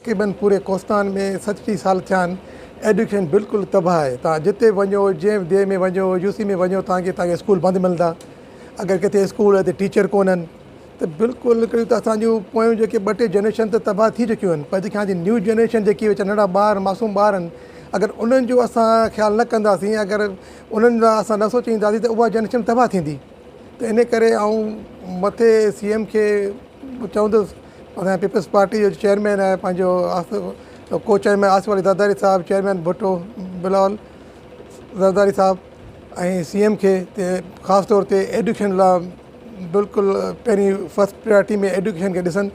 قيمن پوري ڪوستان ۾ سچ ٽي سال ٿيا آهن ايڊيوڪيشن بلڪل تباهه آهي توهان جتي به وڃو جنهن به ديهه ۾ وڃو يو سي ۾ وڃو توهان کي توهان کي اسڪول بند ملندا اگر ڪٿي اسڪول آهي ته ٽيچر ڪونهن ته بلڪل هڪڙي ته اسان جون پويون جيڪي ٻه ٽي جنريشن ته تباهه ٿي چڪيون آهن پر جيڪي هاڻ جي نيو جنريشن جيڪي ويچارا ننڍڙا ٻار معصوم ٻار آهن اگر انهن جو اسان خيال نه ڪنداسين اگر انهن لاء اسان نه سوچينداسين ته اها جنريشن تباهه ٿيندي ته ان ڪري آئون مٿي سی ايم کي چوندس اسان جي پيپلز پارٽي جو چيئرمين آهي پنهنجو ڪو چيئرمين آصف علي زرداري صاحب چيئرمين ڀٽو بلاول زرداري صاحب ۽ سي ايم کي خاص طور تي ايڊوڪيشن لا بلڪل پهرين فسٽ پريارٽي ۾ ايڊوڪيشن کي ڏسن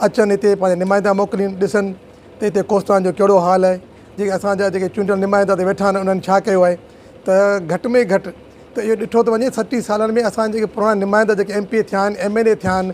اچن هتي پنهنجا نمائندا موڪلين ڏسن ته هتي ڪوستان جو ڪهڙو حال آهي جيڪي اسانجا جيڪي چونڊيل نمائندا هتي ويٺا آهن انهن ڇا ڪيو آهي ته گهٽ ۾ گهٽ ته اهو ڏٺو ٿو وڃي سٽيهه سالن ۾ اسان جيڪي پراڻا نمائندا جيڪي ايم پي اي ٿيا آهن ايم اين اي ٿيا آهن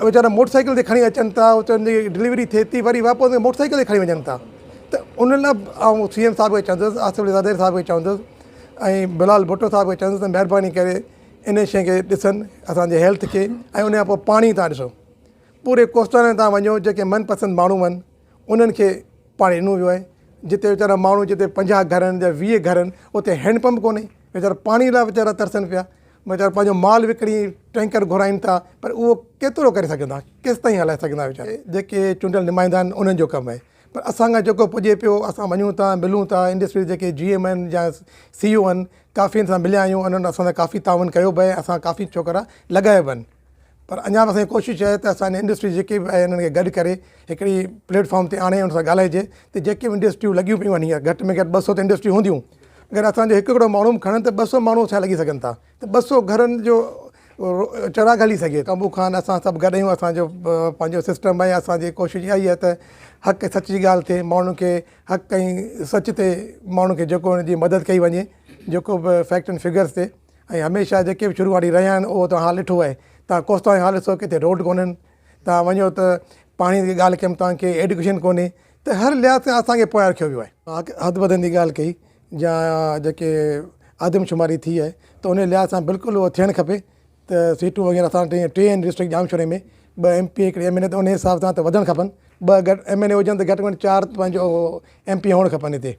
ويچارا موٽر سائيڪل تي کڻي اچن ٿا چون ٿا ڊليوري ٿئي ٿي وري واپس ڪري موٽر سائيڪل تي کڻي وڃن ٿا ته ان لا آئون سي ايم صاحب کي چوندس آصف علي زرداري صاحب کي چوندس ۽ بلال ڀٽو صاحب کي چوندس ته مھرباني ڪري ان شي کي ڏسن اسانجي ھيلٿ کي ۽ ان کان پوء پاڻي تان ڏسو پوري ڪوستان تان وڃو جيڪي من پسند ماڻھو ھئن انھن کي پاڻي ڏنو ويو آھي جتي ويچارا ماڻھو جتي پنجاھ گھر ھن جا ويھ گھر ھن اتي ھينڊ پمپ ڪونھي ويچارا پاڻي لا ويچارا ترسن پيا ويچارا پنهنجو مال وڪڻي ٽينڪر گهرائين ٿا پر اهو ڪيترو ڪري سگهن ٿا ڪيستائين هلائي سگهن ٿا ويچارا جيڪي چونڊيل نمائندا آهن انهن جو ڪم آهي پر اسان کان جيڪو پڄي پيو اسان وڃون ٿا ملون ٿا انڊسٽريز جيڪي جي ايم آهن يا سي او آهن ڪافين سان مليا آهيون انهن اسان سان ڪافي تعاون ڪيو به آهي اسان ڪافي ڇوڪرا لڳايا به آهن پر اڃا به اسان جي ڪوشش آهي ته اسان جي انڊسٽري جيڪي به آهي انهن کي گڏ ڪري هڪڙي پليٽ فارم تي آڻي ان سان ڳالهائجي ته جيڪي به انڊسٽريون لڳيون پيون آهن هينئر گهٽ ۾ گهٽ ٻه سؤ ته انڊسٽريون هونديون اگر اسان جو هڪ هڪڙو ماڻهو به کڻن ته ٻه سؤ ماڻهو ڇا لڳي سگهن ٿا ته ٻه سؤ گهرن جو چراغ هلي سگهي ٿو قمبو خان اسان سڀ گڏ آهيون اسان جو پنهنجو سسٽم آهي اسان جي ڪوشش اها ئي آهي ته حق ۽ سچ جي ڳالهه ٿئي ماڻهن کي حق ۽ سچ تي ماڻهن کي جيڪو ان جي مدد ڪئي وڃي جيڪو به فيڪٽ اينڊ فگرس تي ۽ هميشه جيڪي به شروعاڙي رهيا آهن اهو توهان حال ڏٺو آهي توهان ڪوستان جو حال ڏسو ڪٿي روڊ ڪونهن توهان وڃو ته پاڻي جي ڳالهه ڪيم توهان کي ايڊڪيشن ڪونهي ته هر لحاظ کان اسانکي پويان رکيو ويو آهي حد بدن جي ڳالهه ڪئي جا جيڪي آدم شماري ٿي آهي ته ان لحاظ سان بلڪل اهو ٿيڻ کپي ته سيٽون وغيره اسان ٽي ٽي آهن ڊسٽرڪٽ ڄامشوري ۾ ٻه ايم پي هڪڙي ايم اين اي ته ان حساب سان ته وڌڻ کپن ٻه گهٽ ايم اين اي هجن ته گهٽ ۾ گهٽ چار پنهنجو ايم پي هئڻ کپن هتي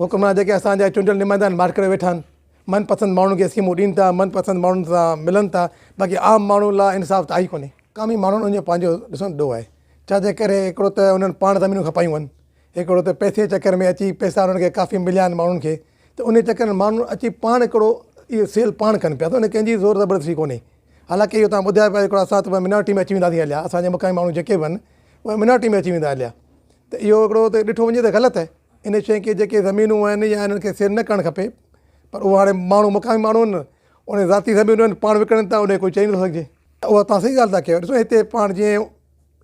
حڪمران جيڪي اسان جا چونڊيل نمائندا آهن ماٺ ڪري ويٺا آهن من پسند ماڻهن کي اسڪيمون ڏين ٿا من پسند ماڻهن سان ملن ٿا باقي عام ماڻهن لا انصاف ته آهي ڪونهي. مقامي ماڻهن ان جو پنهنجو ڏسڻ ڏو آهي ڇا جي ڪري هڪڙو ته انهن پاڻ زمينون کپايون هن هڪڙو ته پئسي جي چڪر ۾ اچي پئسا انهن کي ڪافي مليا آهن ماڻهن کي ته انهي چڪر ۾ ماڻهن اچي پاڻ هڪڙو اهو سيل پاڻ ڪن پيا ته ان ڪنهن جي زور زبردستي ڪونهي حالانڪه اهو توهان ٻڌايو پيا هڪڙو اسان ته منارٽي ۾ اچي وينداسين هليا اسان جا مقامي ماڻهو جيڪي به هن اهي منارٽي ۾ اچي ويندا هليا ته اهو هڪڙو ته ڏٺو وڃي ته غلط آهي ان شين کي جيڪي زمينون آهن يا انهن کي سيل نه ڪرڻ کپي پر اهو هاڻي ماڻهو مقامي ماڻهو آهن انهن ذاتي زمينون آهن پاڻ وڪڻن ٿا انهي ڪوئي چئي نٿو سگهجي ته اهو تهان صحيح ڳالهه ٿا ڪيو ڏسو هتي پاڻ جيئن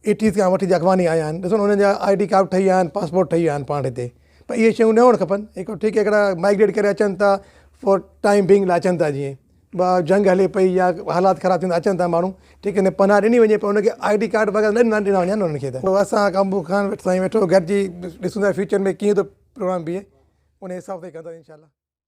ايٽيز کان وٺي جيڪي اڳواڻ آيا آهن ڏسو نه انهن جا آئي ڊي ڪارڊ ٺهي ويا آهن پاسپورٽ ٺهي ويا آهن پاڻ هتي پر اهي شيون نه هئڻ کپن هڪ ٺيڪ هڪڙا مائگريٽ ڪري اچن ٿا فور ٽائم بينگ لاء اچن ٿا جيئن به جنگ هلي پئي يا حالات خراب ٿيندا اچن ٿا ماڻهو جي ڪڏهن پناهه ڏني وڃي پر ان کي آئي ڊي ڪارڊ وغيره نه ڏنا وڃن انهن کي ته اسان ڪامبو خان سائين ويٺو گڏجي ڏسون ٿا فيوچر ۾ ڪيئن ٿو پروگرام بيهي انهي حساب سان ڪنداسين انشاء الله.